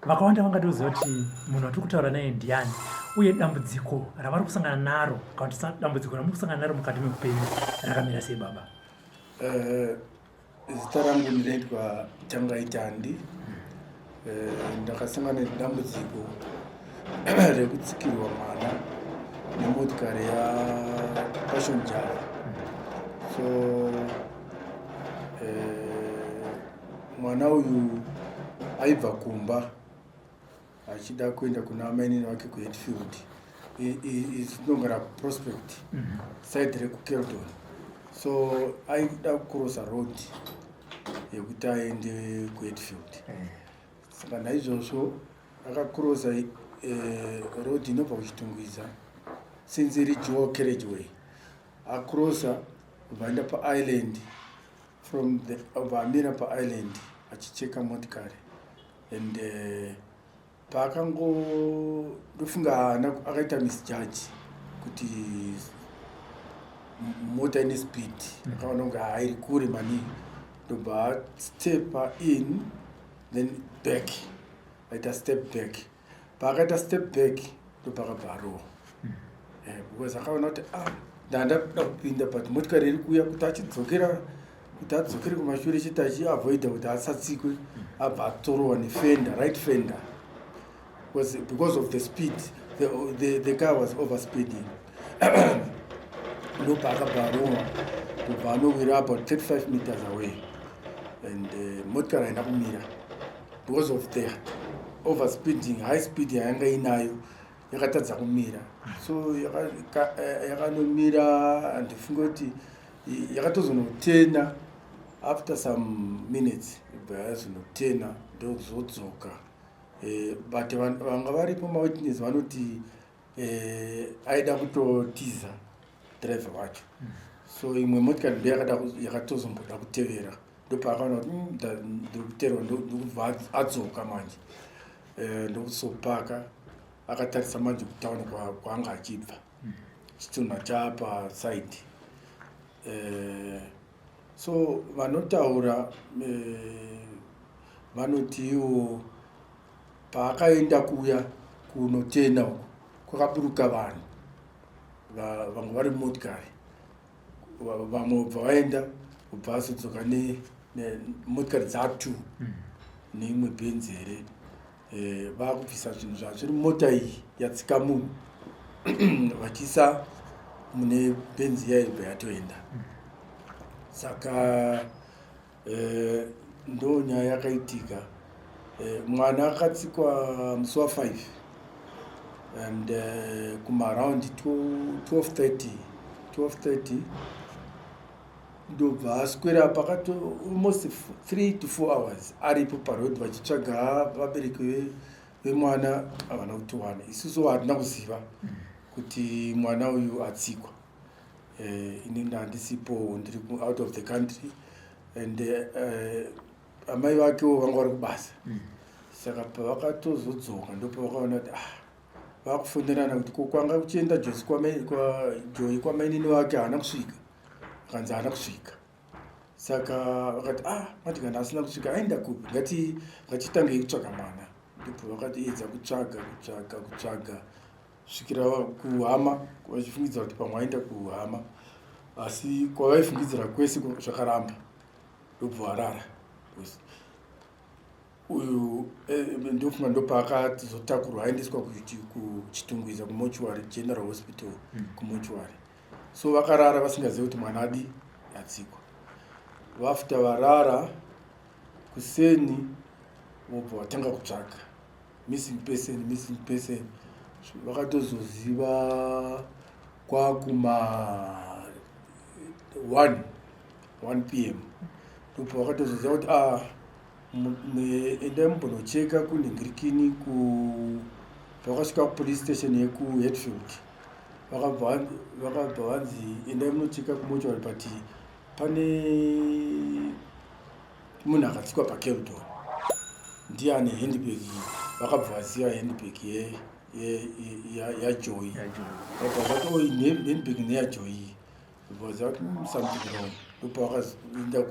vakawanda vangatoziva kuti munhu atiri kutaura naye ndiani uye dambudziko ravari kusangana naro kana kuti dambudziko ramuri kusangana naro mukati meupenyu rakamira sei baba Eh, zita rangu ndinoitwa Changaitandi. Eh, ndakasangana nedambudziko rekutsikirwa mwana nemotikari yaPassion Java. So eh, mwana uyu aibva kumba achida kuenda kuna amainini vake kuhetfield inogara prospect mhm. side rekukeldon so aida kucrossa road yekuti aende kuhetfield eh. saka naizvozvo akacrossa eh, road inobva kuchitungwiza since iri joe carriage way acrossa vaenda paisland from the vamira paisland achicheka motikari and uh, paakango ndofunga akaita misjudge kuti mota ine speed mm. akaona kunge hairi kure maningi ndobva stepa in then back aita step back paakaita step back ndopakabva arowa mm. eh, because akaona kuti ah ndandakuda kupinda but motikari iri kuuya kuti achidzokera kuti adzokere kumashure chete achiavoida kuti asatsikwe abva atorowa nefender right fender was because of the speed the, the, the car was over speeding ndopa akabva aruma kubva anowira about 35 meters away and uh, motikari haina kumira because of the over speeding high speed yayanga inayo yakatadza kumira so eh, yakanomira andifunge kuti yakatozonotena after some minutes ibva yazonotena ndozodzoka eh, but vanga varipo mawitness vanoti eh, aida kutotiza driver wacho mm. so imwe motikari ndo yakatozomboda kutevera ndopaakaona kuti mm, ndikuterwa ndokubva adzoka manje eh, ndokuzopaka akatarisa manje kutauni kwaanga achibva chitunha chapa side eh, so vanotaura eh, vanotiwo paakaenda kuya kunotena uko kwakaburuka vanhu vamwe vari motikari vamwe ubva vaenda ubva azodzoka nemotikari dzatu hmm. neimwe bhenzi here eh, vakubvisa zvinhu zvavo zviri mota iyi yatsika munhu vachiisa mune benzi yaibva yatoenda saka eh, ndo nyaya yakaitika eh, mwana akatsikwa musi wa 5 and eh, kumaround 1230 1230 ndobva aswera pakato almost three to four hours aripo paroad vachitsvaga vabereki vemwana havana kutiwana isusu hatina kuziva kuti mwana uyu atsikwa eh, ini ndandisipo ndiri out of the country and eh, amai vakewo vanga vari kubasa mm. saka pavakatozodzoka ndopavakaona kuti ah vakufonerana kuti ko kwanga kuchienda josi kwajoyi kwamainini vake haana kusvika vakanzi haana kusvika saka vakati ah mati kana asina kusvika aenda kupi ngati ngatitange kutsvaga mwana ndipo vakatiedza kutsvaga kutsvaga kutsvaga svikira kuhama vachifungidzira kuti pamwe aenda kuhama asi kwavaifungidzira kwese zvakaramba ndobva varara uyu eh, ndofunga ndopaakatizotakurwa aendeswa kuchitungwiza kumochuary general hospital hmm. kumochuary so vakarara vasingazive kuti mwana adi atsikwa vafta varara kuseni vobva vatanga kutsvaga missing person missing person vakatozoziva kwakuma 1 1 p m ndobva vakatozoziva kuti a ah, endai mumbonocheka kunhingirikini ku vakasvika kupolice station yekuheadfield vakabva vakabva vanzi endai munocheka kumochwari but pane munhu akatsikwa pacampton ndiye ane handbag vakabva vaziva handbag yajoy vakabva vati oi handbag neyajoy vaziva kuti hmm, something wrong ndopa vakaenda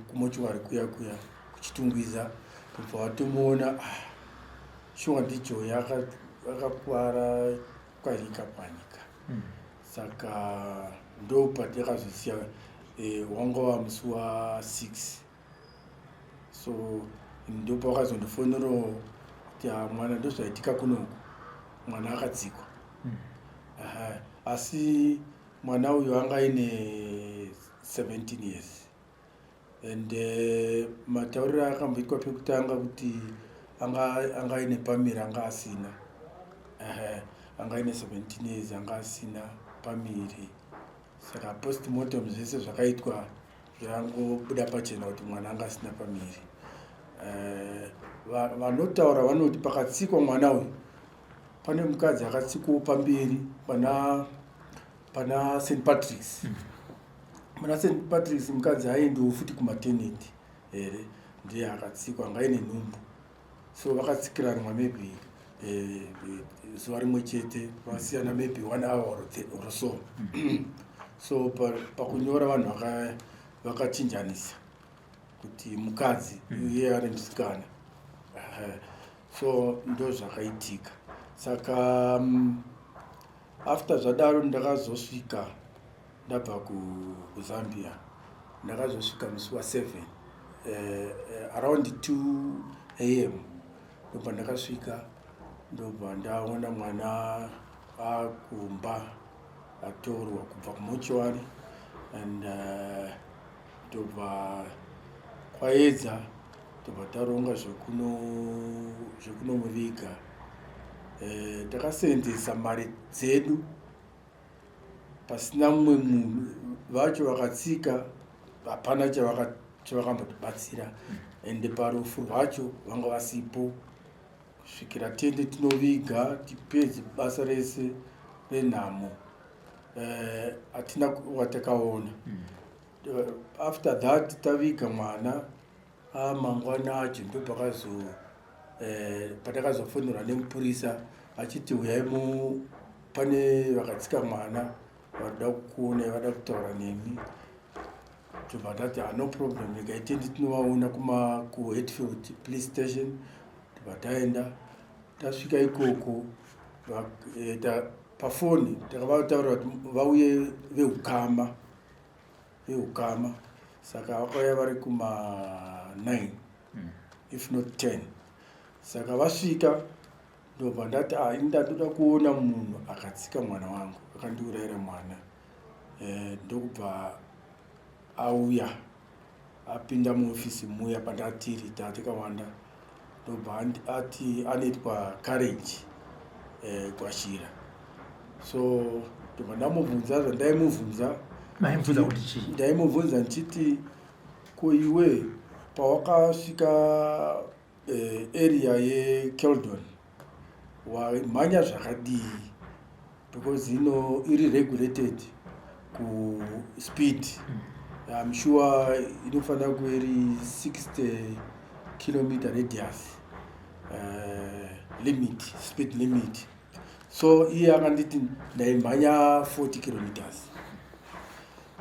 kumochwari kuya kuya kuchitungwiza ndobva vatomuona ah, shuwa ndijoy akakuvara kwanika kwanika mm. saka ndopatakazosiya eh, wanga wa musi wa six so ndopawakazondifonerawo kuti ah, mwana ndozvaitika kunoku mwana akadzikwa mm. asi mwana uyu anga aine 17 years and eh, matauriro uh, akamboitwa pekutanga kuti anga anga ine pamiri anga asina uh, anga ine 17 years anga asina pamiri saka postmortem zvese zvakaitwa zvangobuda pachena kuti mwana anga asina pamiri uh, vanotaura va, vanoti pakatsikwa mwana uyu pane mukadzi akatsikwawo pamberi pana pana st patricks mm. muna st patricks mukadzi haaendiwo futi kumateneti here ndiye akatsikwa anga ine nhumbu so vakatsikiranwa maybe eh, zuva rimwe chete vasiyana maybe one hour or so so pakunyora vanhu vakachinjanisa kuti mukadzi hmm. iye ari musikana so ndo zvakaitika saka mm, After zvadaro ndakazosvika ndabva kuzambia ndakazosvika musi waseven uh, eh, uh, eh, around two am ndobva ndakasvika ndobva ndaona mwana akumba atorwa kubva kumochuary and uh, tobva kwaedza tobva taronga zvekunomuviga eh, takaseenzesa mari dzedu pasina mumwe munhu vacho vakatsika hapana chavakambotibatsira ende parufu rwacho vanga vasipo kusvikira tende tinoviga tipedze basa rese renhamo eh, hatina uh, watakaona mm. uh, after that taviga mwana ah, mangwana acho ndo pakazo eh, patakazofonerwa nemupurisa achiti uyai mu pane vakatsika mwana vada kukuona vada kutaura nemi tobva tati ah, no problem regai tiendi tinovaona kuma kuhetfield police station tobva taenda tasvika ikoko eh, pafoni takavataurira kuti vauye veukama veukama saka vakauya vari kuma 9 mm. if not 10 saka vasvika ndobva ndati ah, ini ndandoda kuona munhu akatsika mwana wangu akandiurayira mwana eh, ndokubva auya apinda muofisi muya pandatiri tatikawanda ndobva ati anoitwa courage eh, kwashira so ndobva ndamubvunza zvandaimubvunza ndaimubvunza ndichiti ko iwe pawakasvika eh, area yekeldon wamhanya zvakadii because ino iri regulated kuspeed im sure inofanira kuve iri 60 kilometer radius uh, limit speed limit so iye akanditi ndaimhanya 40 kilometers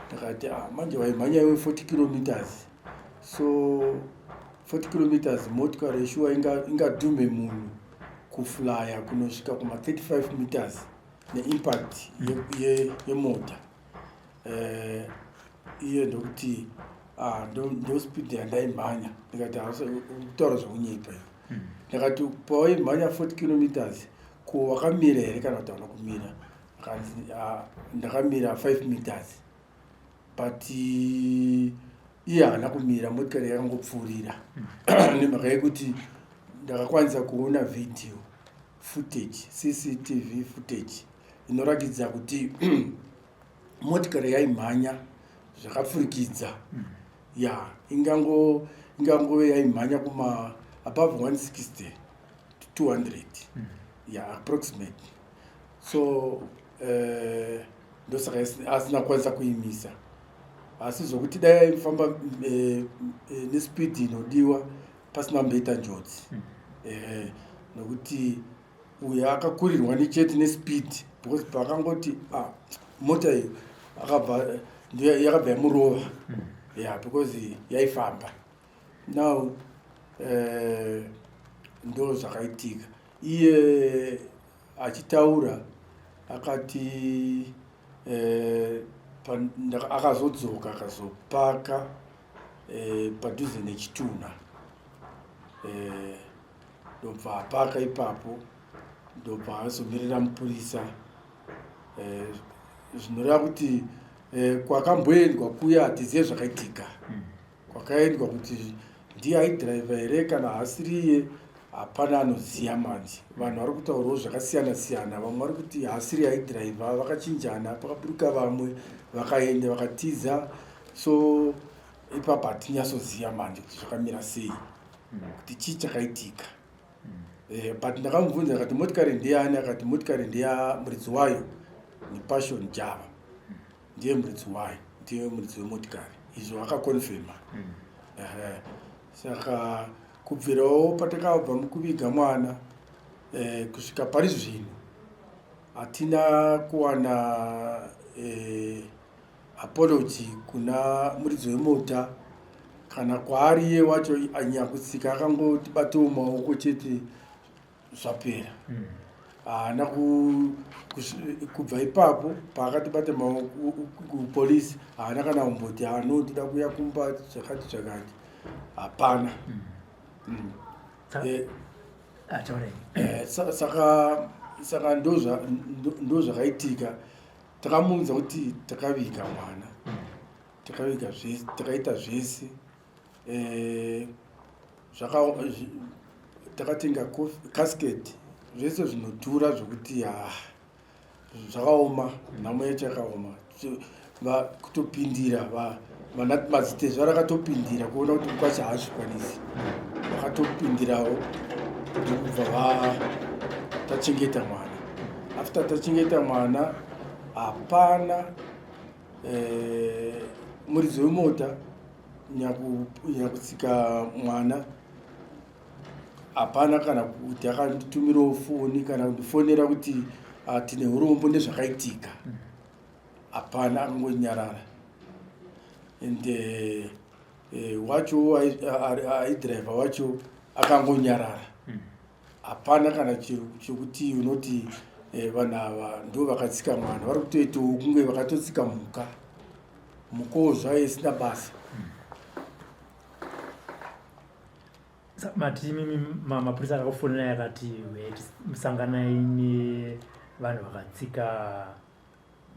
ndakati ah, manje waimhanya iwe 40 kilometers so 40 kilometers motikari yeshuwa ingadhume inga munhu kuflya kunosvika kuma 35 meters neimpact yemota ye, ye uh, iye ndokuti ah, ndospeed ndo yandaimhanya ndikati kutaura zvekunyepa iyo hmm. ndakati pawaimhanya 40 kilometers ko wakamira here kana kuti hauna kumira ah, ndakamira 5 meters but iye haana kumira motikari yakangopfuurira hmm. nemhaka yekuti ndakakwanisa kuona video footage cctv footage inoratidza kuti motikari yaimhanya zvakapfurikidza hmm. ya ingango ingangove yaimhanya kuma above 160 to 200 hmm. ya approximate so eh, ndosaka asina kwanisa kuimisa asi zvokuti dai aifamba eh, eh, nespeed inodiwa pasina kumboita njodzi hmm. eh, nokuti uyo akakurirwa nechete nespeed because paakangoti ah, mota iyo yakabva yamurova hmm. ya because yaifamba now ndo zvakaitika iye Achitaura akati eh, akazodzoka akazopaka eh, padhuze nechitunha eh, ndobva apaka ipapo ndobva azomirira mupurisa eh, zvinoreva kuti eh, kwakamboendwa kuya hatizive zvakaitika mm. kwakaendwa kuti ndiye aidhiraivha here kana haasiriye hapana anoziva manje vanhu vari kutaurawo zvakasiyana siyana vamwe vari kuti haasiri aidhiraivha vakachinjana pakaburuka vamwe vakaenda vakatiza so ipapa hatinyatsoziva manje kuti zvakamira sei hmm. kuti chii chakaitika hmm. eh, but ndakamubvunza akati motikari ndeyani akati motikari ndeya muridzi wayo nepassion java ndiye muridzi wayo ndiye muridzi wemotikari izvo vakakonfirma mm. saka kubvirawo patakabva mukuviga mwana eh, kusvika pari zvino hatina kuwana eh, apology kuna muridzi wemota kana kwaari iye wacho anyakutsika akangoti batiwo maoko chete zvapera haana kubva ipapo paakatibata mapolisi haana kana kumboti hano tida kuya kumba zvakati zvakati hapana mm. eh, ah, eh, saka ndo zvakaitika takamuudza kuti takaviga mwana mm. takaviga zvese takaita zvese eh, zvaka takatenga casket zvese zvinodhura zvekuti ha ah, zvakaoma nhamo yacho yakaoma kutopindira vanamazitezvo rakatopindira kuona kuti mukwacha haazvikwanisi vakatopindirawo kuti kubva va tachengeta mwana after tachengeta mwana hapana eh, muridzi wemota nyakutsika mwana hapana kana kuti akanditumirawo foni kana kundifonera kuti ah, tine urombo nezvakaitika hmm. hapana akangonyarara and eh, eh, wacho aidriver wacho akangonyarara hapana kana chekuti unoti eh, vanhu ava ndo vakatsika mwana vari kutoitawo kunge vakatotsika mhuka mhukawo zvayo isina basa mati mimi mapurisa akakufonera yakati musanganai nevanhu vakatsika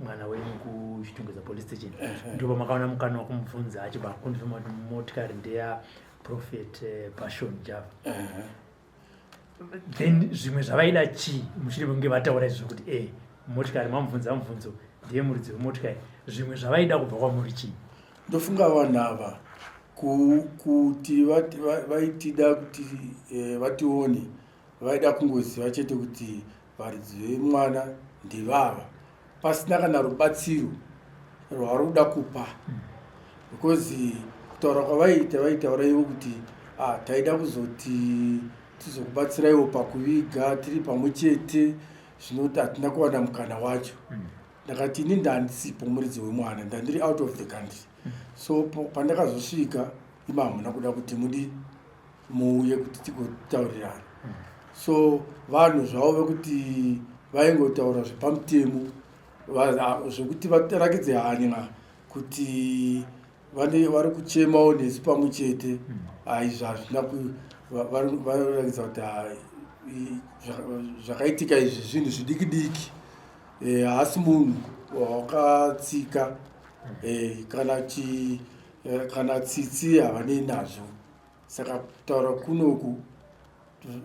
mwana wenyu kuchitungeza police station ndipo makaona mukana wakumubvunza achibva akonfirma kuti motikari ndeya prophet eh, passion java then zvimwe zvavaida chii mushure mekunge vataura izvi zvekuti e motikari mamubvunza mubvunzo ndiye muridzi wemotikari zvimwe zvavaida kubva kwamuri chii ndofunga vanhu ava kuti vaitida kuti eh, vatione vaida kungoziva chete kuti Varidzi vemwana ndivava pasina kana rubatsiro rwavari kuda kupa because kutaura kwavaiita vaitaura ivo kuti ah, taida kuzoti tizokubatsiraiwo pakuviga tiri pamwe chete zvinoti hatina kuwana mukana wacho ndakati ini ndandisipo muridzi wemwana ndandiri out of the country so pandakazosvika ima hamuna kuda kuti mudi muuye kuti tigotaurirana so vanhu zvavo vekuti vaingotaura zvepamutemo zvekuti vatarakidze hanya kuti vane vari kuchemawo nesu pamwe chete aizvo hazvina vanoratidza kuti zvakaitika izvi zvinhu zvidiki diki eh, haasi munhu wakatsika eh, kana eh, kana tsitsi havanei nazvo saka kutaura kunoku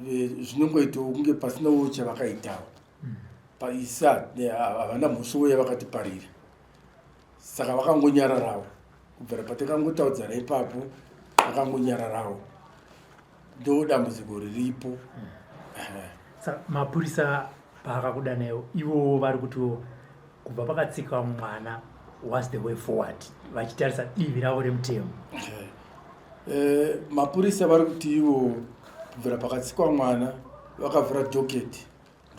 eh, zvinongoitawo kunge pasinawo chavakaitawo mm. paisa eh, havana mhosvo uye vakatiparira saka vakangonyararawo kubvira patakangotaudzana ipapo vakangonyararawo ndo dambudziko riripo mm. mapurisa paakakudanaiwo ivowo vari kutiwo kubva pakatsikiwa mwana was the way forward vachitarisa divi ravo remutemo okay. eh, mapurisa vari kuti ivo kubvira pakatsikwa mwana vakavhura doketi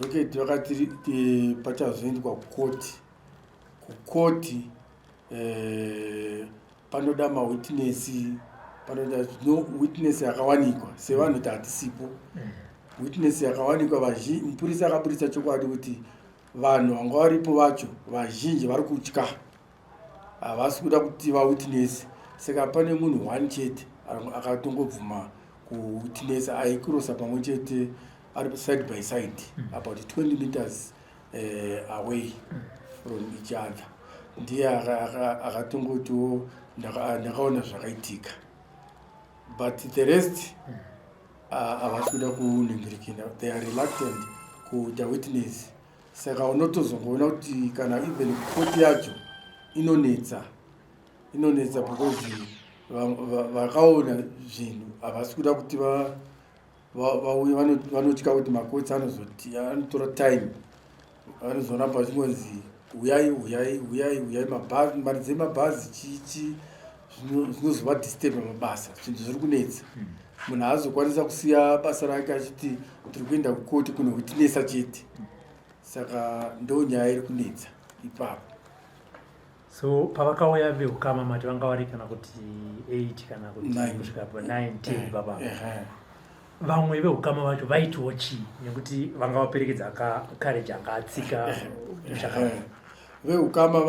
doketi vakati eh, pachazoendwa kukoti kukoti eh, panoda mawitnessi panoda no witness yakawanikwa sevanhu kuti hatisipo mm. witness yakawanikwa vazhi mupurisa akaburitsa chokwadi kuti Vanhu vanga varipo vacho vazhinji vari kutya, havasi kuda kuti vawitness saka pane munhu one chete akatongobvuma kuwitness aikurosa pamwe chete ari side by side mm. about 20 meters uh, away mm. from each other ndiye akatongotiwo ndakaona zvakaitika but the rest mm. Havasi kuda kuningirikina, they are reluctant kuita witness. Saka unotozongoona kuti kana even koti yacho inonetsa, inonetsa because vakaona zvinhu havasi kuda kuti vauye, vanotya kuti makotsi anozoti anotora time Vanozoramba vachingonzi huyai huyai huyai huyai mabhazi mari dzemabhazi chichi zvinozova disturb mabasa zvinhu zviri kunetsa hmm. munhu haazokwanisa kusiya basa rake achiti tiri kuenda kukoti kuno kutinesa chete saka ndo nyaya iri kunetsa ipapo so pavakauya vehukama mati vanga vari kana kuti 8 kana kutikusvika 9 10 baba vamwe vehukama vacho vaitiwo chii nekuti vanga vaperekedza kareji anga atsika vehukama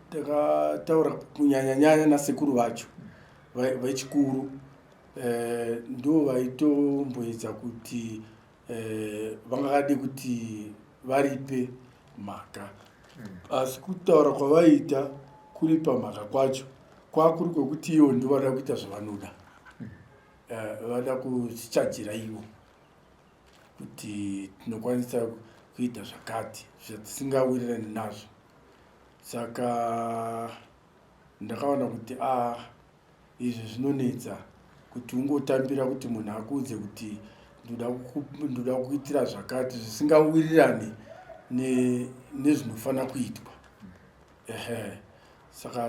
takataura kunyanyanyanya nasekuru vacho vechikuru eh, ndo vaitomboedza kuti eh, vangade kuti varipe mhaka asi kutaura kwavaita kuripa mhaka kwacho kwakuri kwekuti ivo ndovada kuita zvavanoda eh, vada kusichajira ivo kuti tinokwanisa kuita zvakati zvatisingawirirani nazvo saka ndakaona kuti a ah, Izvi zvinonetsa kuti ungotambira kuti munhu akuudze kuti ndoda kukuitira zvakati zvisingawirirani nezvinofanira kuitwa ehe saka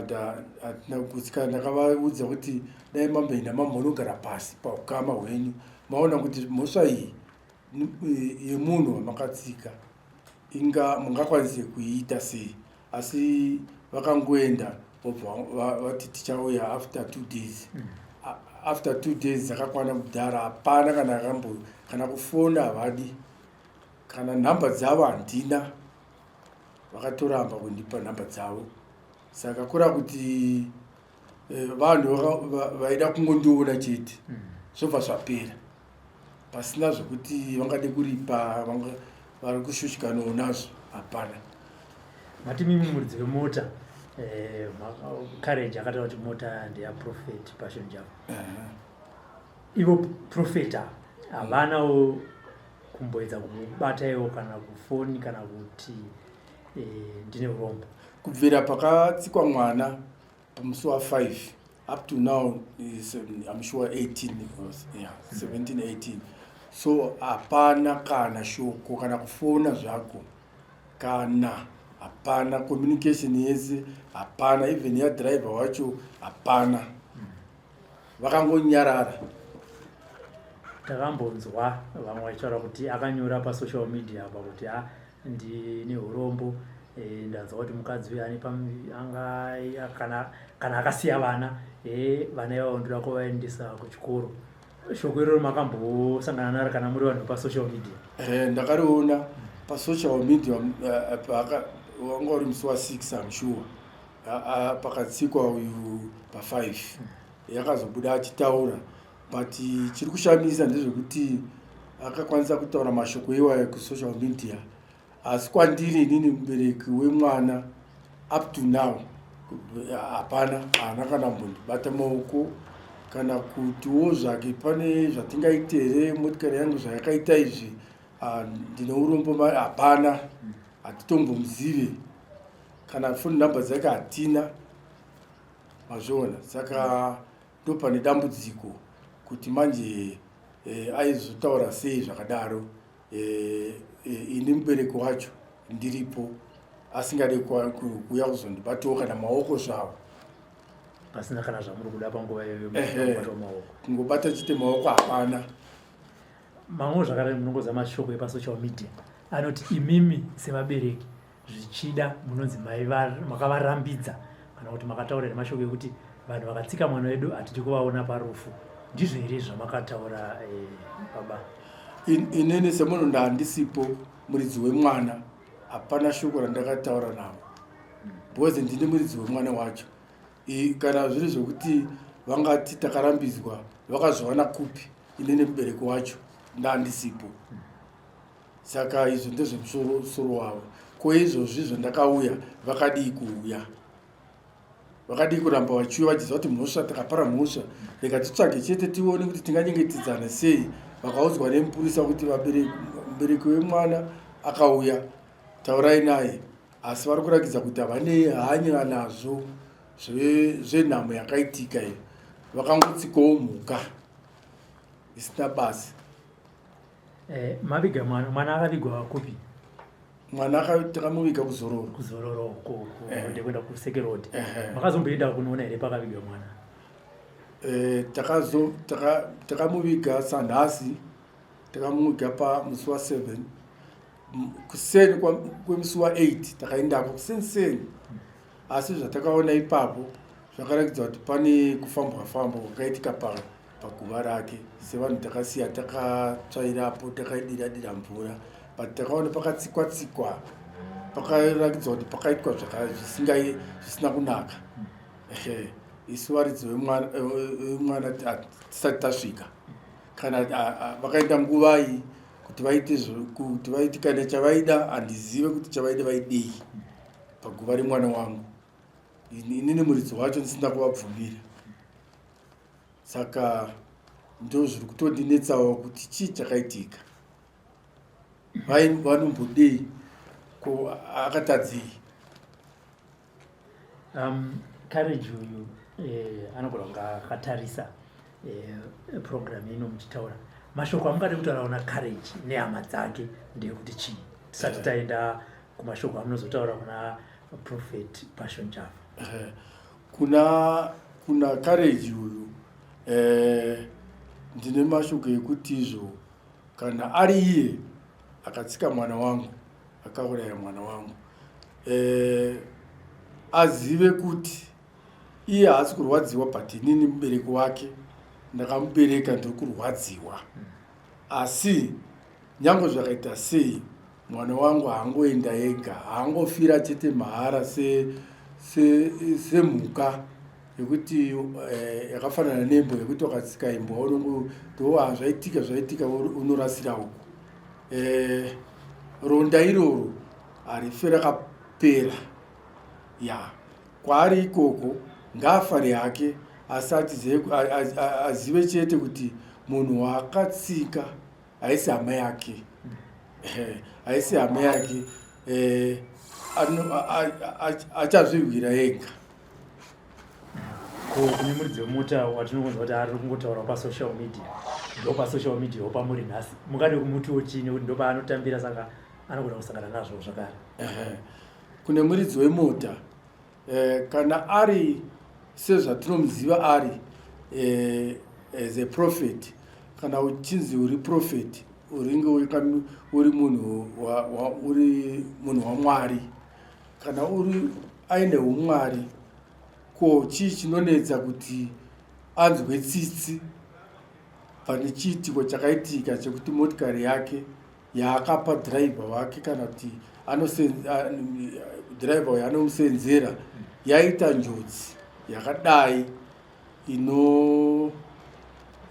hatina kuputsika ndakavaudza kuti dai mamboenda mambonogara pasi paukama hwenyu maona kuti mhosva iyi yemunhu wamakatsika inga mungakwanise kuiita sei asi vakangoenda vobva vati tichauya after two days mm. after two days dzakakwana kudhara hapana kana akambo kana kufona havadi kana nhamba dzavo handina vakatoramba kundipa nhamba dzavo saka kura kuti eh, vanhu vaida kungondiona chete mm. zvobva zvapera pasina zvekuti vangade kuripa vanga vari kushushikanawo nazvo hapana mati mimi muridzi vemota eh, courage akataura kuti mota ndeyaprofet passion javo uh -huh. ivo profet ava havanawo mm -hmm kumboedza kubata iwo kana kufoni kana kuti eh, ndine urombo kubvira pakatsikwa mwana Musi wa 5 up to now is, um, I'm sure 18 because, yeah, 17, 18. So hapana kana shoko kana kufona zvako kana hapana communication yese hapana even ya driver wacho hapana vakangonyarara takambonzwa vamwe vachitaura kuti akanyora pasocial media apa kuti a ah, ndine urombo eh, ndanzwa kuti mukadzi uyo ane kana akasiya vana eh, vana ivavo ndoda kuvaendesa kuchikoro shoko iroro makambosangana naro kana muri vanhu pasocial media eh, ndakariona pasocial media wanga uri musi wa six am sure pakatsikwa uyu pafive yakazobuda achitaura but chiri kushamisa ndezvekuti akakwanisa kutaura mashoko iwayo kusocial media asi kwandiri inini mubereki wemwana up to now hapana haana kana mbondibata maoko kana kutiwo zvake pane zvatingaite here motikari yangu zvayakaita izvi ah, ndine urombo mari hapana hatitombomuzive kana foni number dzake hatina mazviona saka mm. Ndopane dambudziko kuti manje eh, aizotaura sei zvakadaro eh, eh, ini mubereki wacho ndiripo asingade kuuya kuzondibatiwo kana maoko zvavo pasina kana zvamuri kuda panguva iyoyomaoko kungobata chite maoko hapana mamwe zvakadai munongoza mashoko epasocial media anoti imimi sevabereki zvichida munonzi makavarambidza kana kuti makataurira mashoko ekuti vanhu vakatsika mwana wedu hatidi kuvaona parufu ndizvo here zvamakataura eh, baba inini semunhu ndaandisipo muridzi wemwana hapana shoko randakataura navo because ndini muridzi wemwana wacho kana zviri zvekuti vangati takarambidzwa vakazviwana kupi inini mubereki wacho ndaandisipo Saka izvo ndezvemusoro wavo. Ko izvozvi zvandakauya vakadii kuuya? Vakadii kuramba vachiuya vachiziva kuti mhosva takapara mhosva? Rega titsvage chete tione kuti tinganyengetedzana sei. Vakaudzwa nemupurisa kuti mubereki wemwana akauya, taurai naye. Asi vari kurakidza kuti havane hanya nazvo zvenhamo yakaitika iyo. Vakangotsikawo mhuka isina basa. Eh, maviga mwana mwana akavigwa kupi mwana takamuviga kuzororo kuzororo uko eh. ndekuenda kusekerodi eh, makazomboenda kunoona here pakaviga mwana takamuviga sanhasi takamuviga pamusi wa seven kuseni kwemusi wa eight takaendako kuseniseni asi zvatakaona ipapo zvakaratidza kuti pane kufambwa fambwa kwakaitika paa paguva rake sevanhu takasiya takatsvairapo takaidira dira mvura but takaona pakatsikwa tsikwa pakaratidzwa kuti pakaitwa zvisina kunaka isu varidzi vemwana tisati tasvika kana vakaita nguvai kuti vaite kuti vaiti kana chavaida handizive kuti chavaida vaidei paguva remwana wangu inini muridzi wacho ndisina kuvabvumira saka ndozviri kutondinetsawo kuti chii chakaitika vai vanombodei ko akatadzei um courage uyu eh, anogona kunga akatarisa eh, program ino muchitaura mashoko amungade kutaurawo na courage nehama dzake ndeyekuti chii tisati taenda kumashoko amunozotaura kuna prophet passion java eh, Kuna kuna Courage uyu eh, ndine mashoko ekuti izvo kana ari iye akatsika mwana wangu akauraya mwana wangu eh, azive kuti iye haasi kurwadziwa but inini mubereki wake ndakamubereka ndiri kurwadziwa asi nyange zvakaita sei Mwana wangu haangoenda ega, haangofira chete mahara semhuka yekuti eh, yakafanana nembwa yekuti wakatsika imbwa unongotoa ah, zvaitika zvaitika unorasira uko. Eh, ronda iroro harife rakapera ya kwaari ikoko ngaafare hake asi azive chete kuti munhu waakatsika haisi hama yake eh, haisi hama yake eh, achazvirwira ega ko kune muridzi wemota watinokunza kuti ari kungotaura pasocial media ndo pasocial media wopamuri nhasi mungade kumutiwo chii nekuti ndo paanotambira saka anogona kusangana nazvo zvakare kune muridzi wemota Eh, kana ari sezvatinomuziva ari eh, as a prophet kana uchinzi uri prophet uringe uri munhu uri munhu wamwari kana uri aine umwari ko chii chinonetsa kuti anzwe tsitsi pane chiitiko chakaitika chekuti motikari yake yaakapa driver wake kana kuti driver uyo anomusenzera yaita njodzi yakadai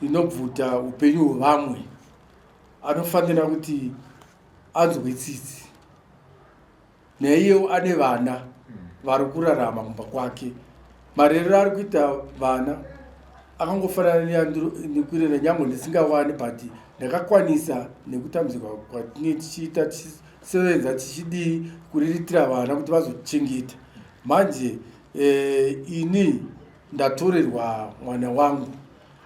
inobvuta ino upenyu hwevamwe anofanira kuti anzwe tsitsi naiyewo ane vana vari kurarama kumba kwake marerero ari kuita vana akangofanana neyanekurera nyangwe ndisingawani but ndakakwanisa nekutambuzika kwatinge tichiita tichisevenza tichidii kuriritira vana kuti vazochengeta manje eh, ini ndatorerwa mwana wangu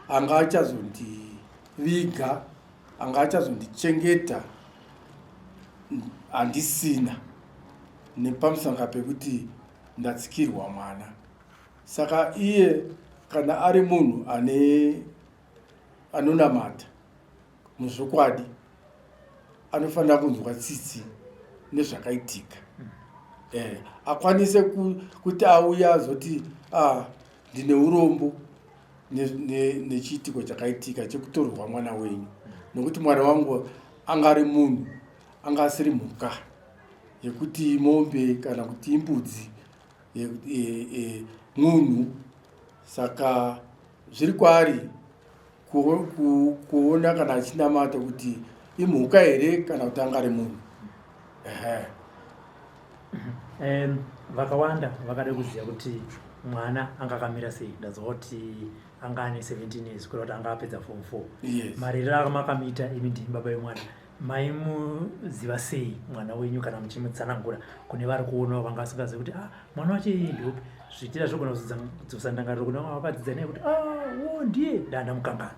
anga achazondiviga anga achazondichengeta handisina nepamusanga pekuti ndatsikirwa mwana saka iye kana ari munhu ane anonamata muzvokwadi anofanira kunzwa tsitsi nezvakaitika mm. eh, akwanise ku, kuti auya azoti ah, ndine urombo nechiitiko chakaitika chekutorerwa mwana wenyu nokuti mwana wangu anga ari munhu anga asiri mhuka yekuti mombe kana kuti imbudzi e, e, e, munhu saka zviri kwaari kuona kana achinamata kuti imhuka here kana kuti angari munhu um, vakawanda vakada kuziva kuti mwana anga akamira sei ndazoti anga ane 17 years kureva kuti anga apedza form four yes. marerero akamakamita imi ndimi baba vemwana maimuziva sei mwana wenyu kana muchimutsanangura kune vari kuonawo vanga vasingazivi kuti ah, mwana wacho iyi ndopi zviitira zvogona kudzosa ndangariro kune vanga vakadzidza naye kuti ah, wo ndiye danda mukangana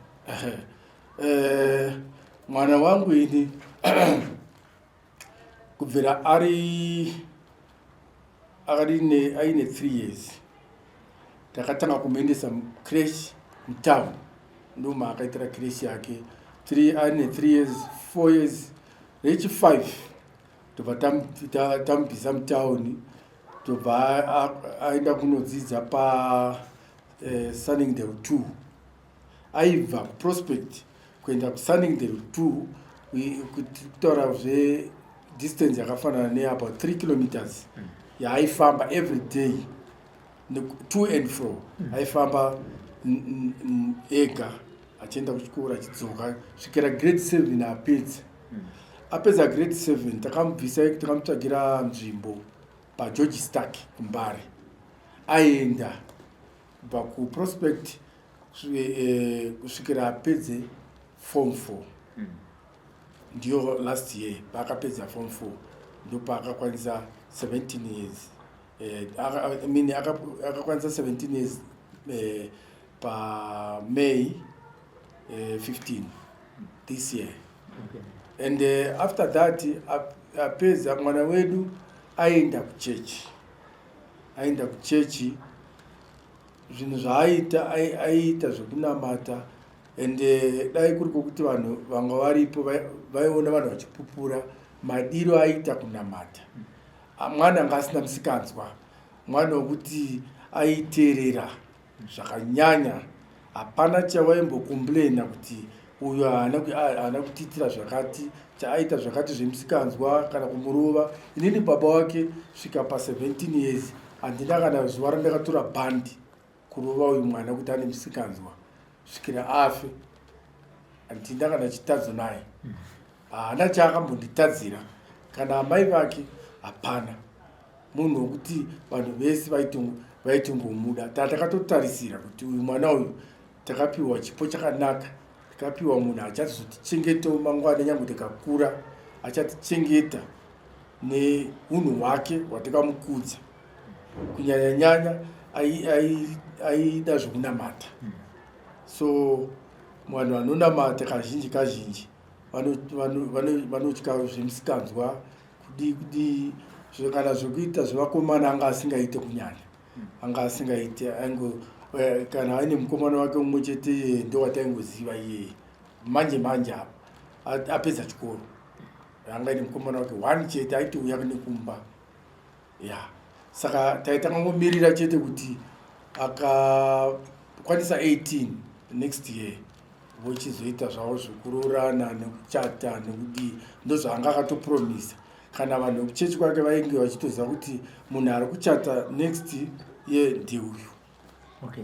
eh, mwana wangu ini kubvira ari akati aine three years takatanga kumuendesa mucresh mutown ndoma akaitira cresh yake aine three years four years rechifive tobva tamubvisa mutown tobva aenda kunodzidza pasunning eh, del two aibva kuprospect kuenda kusunningdale two kutaura zvedistance yakafanana neabout three kilometers mm. yaaifamba every day two and fro mm. aifamba ega achienda kuchikoro achidzoka svikira grade seven apedza mm. apedza grade seven takamubvisa takamutsvagira nzvimbo pageorge stark kumbare aenda kubva kuprospect eh, kusvikira apedze form four hmm. ndiyo last year paakapedza form four ndopaakakwanisa 17 years eh, mean akakwanisa 17 years eh, pamay 15 this year and after that apedza mwana wedu aenda kuchechi Aienda kuchechi zvinhu zvaaiita aiita zvekunamata and eh, dai kuri kwokuti vanhu vanga varipo vaiona vanhu vachipupura madiro aiita kunamata ah, mwana anga asina musikanzwa mwana wekuti aiteerera zvakanyanya hapana chavaimbokomplaina kuti uyu haana kutiitira zvakati chaaita zvakati zvemusikanzwa kana kumurova inini baba wake svika pa17 years handina kana zuva randakatora bhandi kurova uyu mwana kuti ane musikanzwa svikira afe handina kana chitadzo naye haana chaakambonditadzira kana amai vake hapana munhu wokuti vanhu vese vaitongomuda taa takatotarisira kuti uyu mwana uyu takapiwa chipo chakanaka takapiwa munhu achatizotichengetawo mangwana nyange tikakura achatichengeta neunhu hwake hwatikamukudza kunyanya nyanya aida zvekunamata so vanhu vanonamata kazhinji kazhinji vanotya zvemusikanzwa kudii kudii kana zvekuita zvevakomana anga asingaite kunyanya anga asingaite aingo eh, kana aine mukomana wake umwe chete iyeye eh, ndowataingoziva iyeye manje manje apa apedza chikoro anga aine mukomana wake one chete aitouya nekumba Yeah. Saka taitanga ngomirira chete kuti akakwanisa 18 next year vochizoita zvavo zvekuroorana nekuchata nekudii ndozvaanga akatopromisa kana vanhu vekuchechi kwake vainge vachitoziva kuti munhu ari kuchata next year ndeuyu okay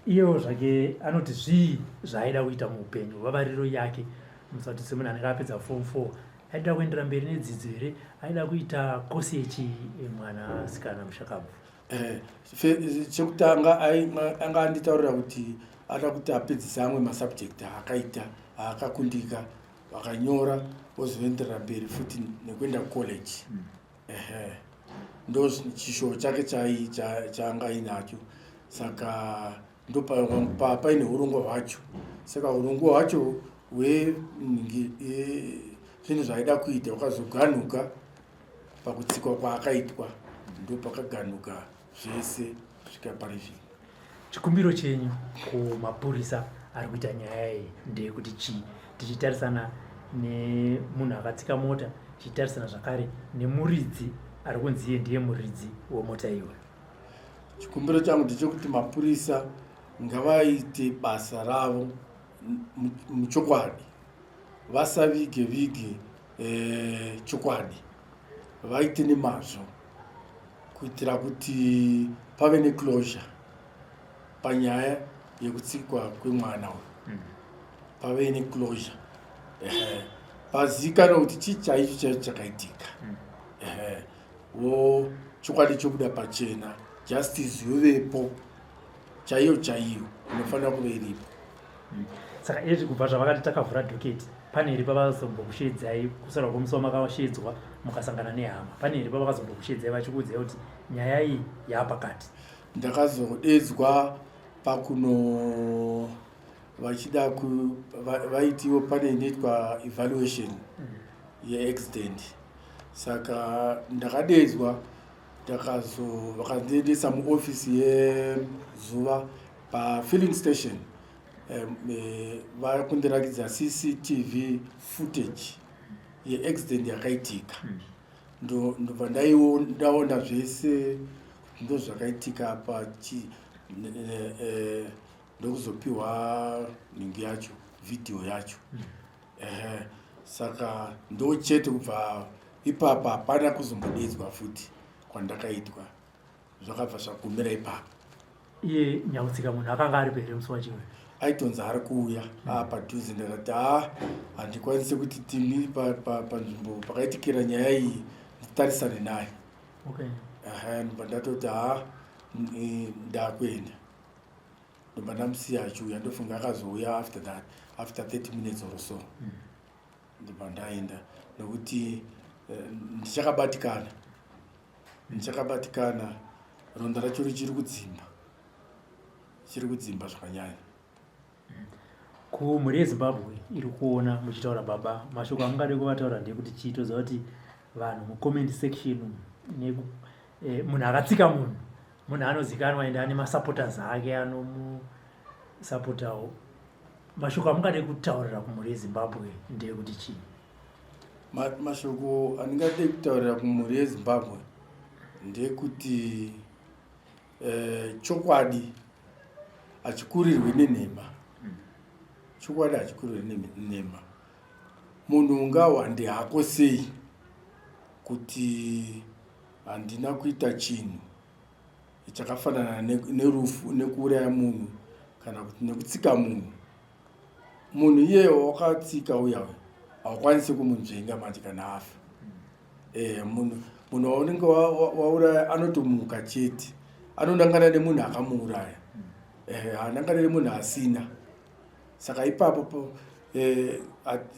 iyewo zvake anoti zvii zvaaida kuita muupenyu vavariro yake musati semunhu anenge apedza form four aida kuendera mberi nedzidzo here aida kuita kosi yechi mwana sikana mushakabvu eh, chekutanga anga anditaurira kuti ada kuti apedzise amwe masubject aakaita aakakundika vakanyora ozoenderera mberi futi nekuenda college mm. ehe ndo chishoo chake chai cha- chaanga ainacho saka ndo pa- pa- paine urongwa hwacho saka urongwa hwacho hwe ngi- e- zvinhu zvaida kuita hwakazoganuka pakutsikwa kwaakaitwa ndo pakaganuka zvese kusvika pari zvino chikumbiro chenyu kumapurisa ari kuita nyaya iyi ndeyekuti chii tichitarisana nemunhu akatsika mota tichitarisana zvakare nemuridzi ari kunzi iye ndiye muridzi wemota iwe chikumbiro changu ndechekuti mapurisa ngavaite basa ravo muchokwadi vasavige vige eh, chokwadi vaite nemazvo kuitira kuti pave neclosure panyaya yekutsikwa kwemwana uyu mm. pave neclosure pazikana kuti chii chaicho chaicho chakaitika mm. wo chokwadi chobuda pachena justice yovepo chaiyo chaiyo inofanira kuve iripo saka izvi kubva zvavakati takavhura doketi pane iri pavazombokusheedzai kusara kwomusi wamakasheedzwa mukasangana nehama pane iri pavakazombokusheedzai vachikuudzai kuti nyaya iyi yaapakati ndakazodeedzwa pakuno vachida vaitiwo va, pane inoitwa evaluation mm. yeaccident saka ndakadeedzwa takazo vakandiendesa muofisi yezuva pafilling station eh, vari um, kundirakidza cctv footage yeaccident yakaitika hmm. ndobva ndaiwo ndaona zvese ndo zvakaitika pachi eh, ndokuzopiwa nhingi yacho vhidhiyo yacho hmm. ehe saka ndochete kubva ipapa hapana kuzombodedzwa futi kwandakaitwa zvakabva zvagumira ipapa iye nyakutsika munhu akanga aripo here musi wachimwe aitonzi ari kuuya aa padhuze ndakati haa handikwanise kuti timi panzvimbo pa, pa, pakaitikira nyaya iyi nditarisane naye okay. ehe ndobva ndatoti haa ndakuenda ndobva ndamusiya achiuya ndofunga akazouya after that after 30 minutes or so mm. ndobva ndaenda nokuti eh, ndichakabatikana ndichakabatikana ronda racho richiri kudzimba chiri kudzimba zvakanyanya mm. kumhuri yezimbabwe iri kuona muchitaura baba mashoko amungade kuvataura ndeyekuti chii toziva kuti vanhu mucomment section eh, munhu akatsika munhu munhu anozikanwa ende ane masupporters ake anomusupportawo mashoko amungade kutaurira kumhuri yezimbabwe ndeyekuti chii mashoko andingade kutaurira kumhuri yezimbabwe ndeyekuti eh, chokwadi hachikurirwi nenhema hmm. chokwadi hachikurirwi nenhema munhu ungawande hako sei kuti Handina kuita chinhu chakafanana nerufu nekuuraya munhu kana kuti nekutsika munhu. Munhu iye wakatsika uya uya haukwanisi kumunzvenga manje kana afa. Eh, munhu munhu waunenge wauraya anotomuka chete anonangana nemunhu akamuuraya eh, anangana nemunhu asina saka ipapo eh,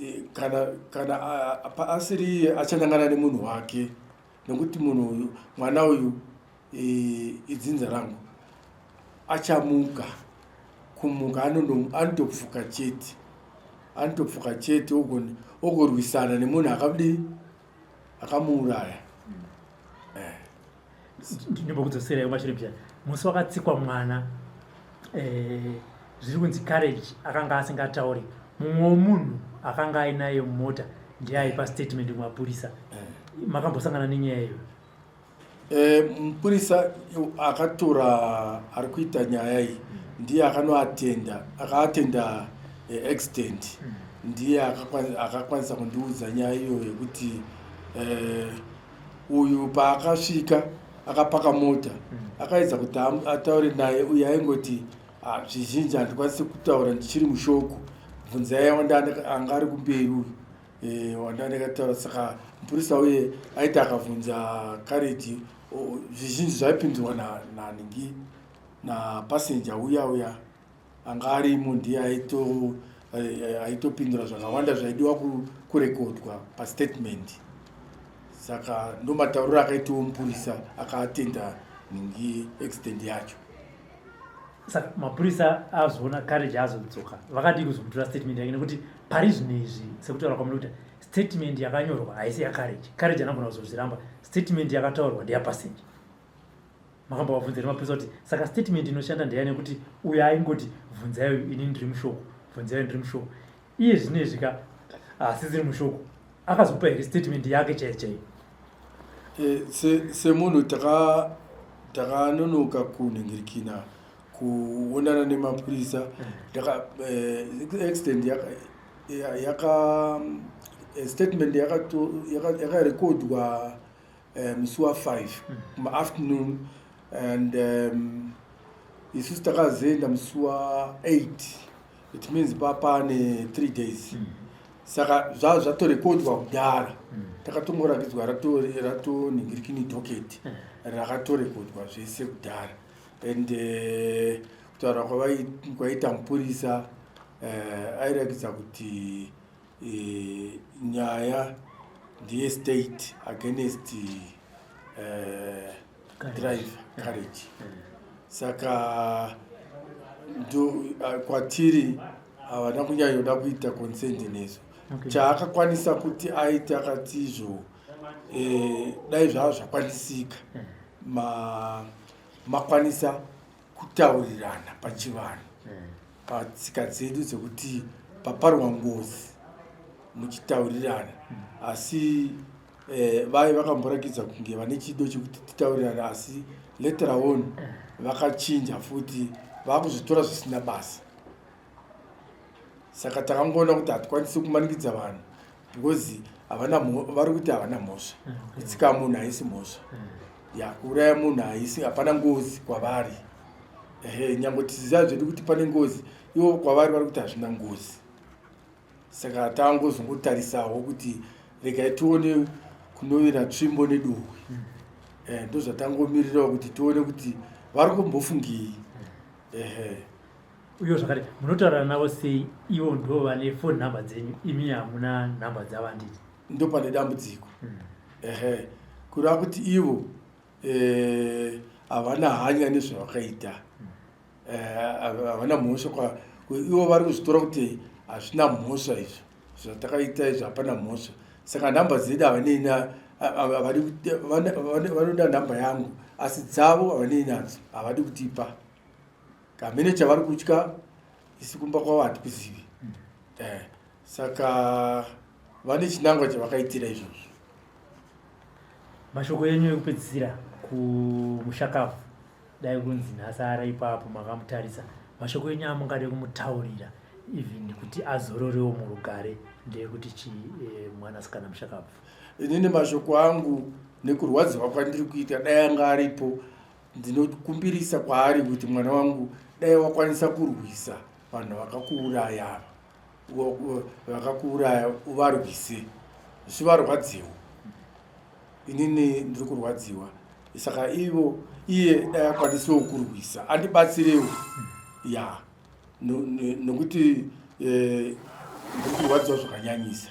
eh, kana asiri achanangana nemunhu wake nekuti munhu uyu mwana uyu e, idzinza rangu achamuka kumuka anotopfuka chete anotopfuka chete ogorwisana nemunhu akadi akamuuraya eh. ndimbokudzosera yomashure bya musi wakatsikwa mwana eh, zviri kunzi courage akanga asingatauri mumwe wemunhu akanga ainaye mumota ndiye aipa statement kumapurisa eh. makambosangana nenyaya iyo eh, mupurisa akatora ari kuita nyaya iyi ndiye akanoatenda akaatenda eh, accident hmm. ndiye akakwanisa kundiudza nyaya iyo yekuti uyu paakasvika akapaka mota mm. akaedza kuti ataure naye uye aingoti ah, zvizhinji handikwanisi kutaura ndichiri mushoko bvunzai anga ari kumberi uyu e, wanda ndakataura saka mupurisa uye aiti akabvunza kareji zvizhinji zvaipindurwa naningi napassenja uya uya anga arimo ndiye aito eh, aitopindura zvakawanda zvaidiwa kurekodwa pastatement saka ndomatauriro akaitiwo mupurisa akaatenda ningi accident yacho saka mapurisa azoona courage azodzoka vakadii kuzomutora statement yake nekuti pari zvinhu izvi sekutaura kwamuri kuti statement yakanyorwa haisi yacourage courage anogona kuzozviramba statement yakataurwa ndeyapassenger makambovabvunza here mapurisa kuti saka statement inoshanda ndeya nekuti uyo aingoti bvunzai uyu ini ndiri mushoko bvunzai ndiri mushoko iye zvino izvi ka hasisiri mushoko akazopa here statement yake chaiyo chaiyo eh, semunhu takanonoka kunhingirikina kuonana nemapurisa accident eh. eh, yaka statement yakarekodwa eh, musi wa 5 mm. maafternoon and um, isu takazoenda musi wa 8 it means papane 3 days mm. saka zvaa zvatorekodwa kudhara mm. takatongorakidzwa ratoningirikini rato docket mm. rakatorekodwa zvese kudhara and eh, kutaura uh, kwaita mupurisa uh, airakidza kuti e, nyaya ndiye state against uh, drive courage saka ndo uh, kwatiri havana kunyanyoda kuita consent nesu okay. chaakakwanisa kuti aite akati izvo eh, dai zvava zvakwanisika hmm. makwanisa ma kutaurirana pachivanhu hmm. patsika dzedu dzekuti paparwa ngozi muchitaurirana hmm. asi eh, vaye vakamborakidza kunge vane chido chekuti titaurirana asi later on vakachinja futi vakuzvitora zvisina basa saka takangoona kuti hatikwanisi kumanikidza vanhu because havana vari kuti havana mhosva mm. kutsika munhu haisi mhosva mm. ya kuuraya munhu haisi hapana ngozi kwavari ehe nyange tiziva zvedu kuti pane ngozi ivo kwavari vari kuti hazvina ngozi saka tangozongotarisawo kuti regai tione kunovira tsvimbo neduhwi mm. eh, ndozvatangomirirawo kuti tione kuti vari kumbofungei ehe uyo zvakare munotaura navo sei ivo ndo vane phone number dzenyu imi hamuna number dzavo anditi ndo pane dambudziko mm. ehe kureva kuti ivo eh, havana eh, hanya nezvavakaita mm. eh, havana mhosva kwa ivo vari kuzvitora kuti hazvina mhosva izvo zvatakaita izvo hapana mhosva saka number dzedu havanei vanoda number yangu asi dzavo havanei nadzo havadi kutipa kamene chavari kutya isi kumba kwavo hatikuzivi mm. eh, saka vane chinangwa chavakaitira izvozvo mashoko enyu ekupedzisira kumushakafu dai kunzi nhasi ara ipapo makamutarisa mashoko enyu amungade kumutaurira even kuti azororewo murugare ndeyekuti chi eh, mwanasikana mushakafu inini mashoko angu nekurwadziwa kwandiri kuita dai anga aripo Ndinokumbirisa kwaari kuti mwana wangu dai wakwanisa kurwisa vanhu vakakuuraya vakakuuraya uvarwise zvivarwadziwa inini ndiri kurwadziwa saka ivo iye dai akwanisawo kurwisa andibatsirewo ya nokuti eh, ndiri kurwadziwa zvakanyanyisa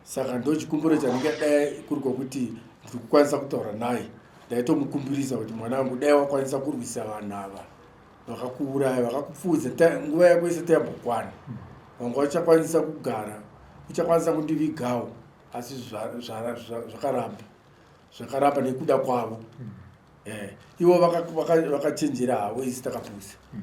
saka ndochikumbiro chanenge dai kuri kwokuti ndiri kukwanisa kutaura naye ndaitomukumbirisa kuti mwana wangu dai wakwanisa kurwisa vanhu ava vakakuuraya vakakupfuudza nguva yako yese tayambokwana vanga vachakwanisa kugara uchakwanisa kundivigawo asi zvakaramba zvakaramba nekuda kwavo hmm. eh, ivo vakachenjera havo isi takapusa hmm.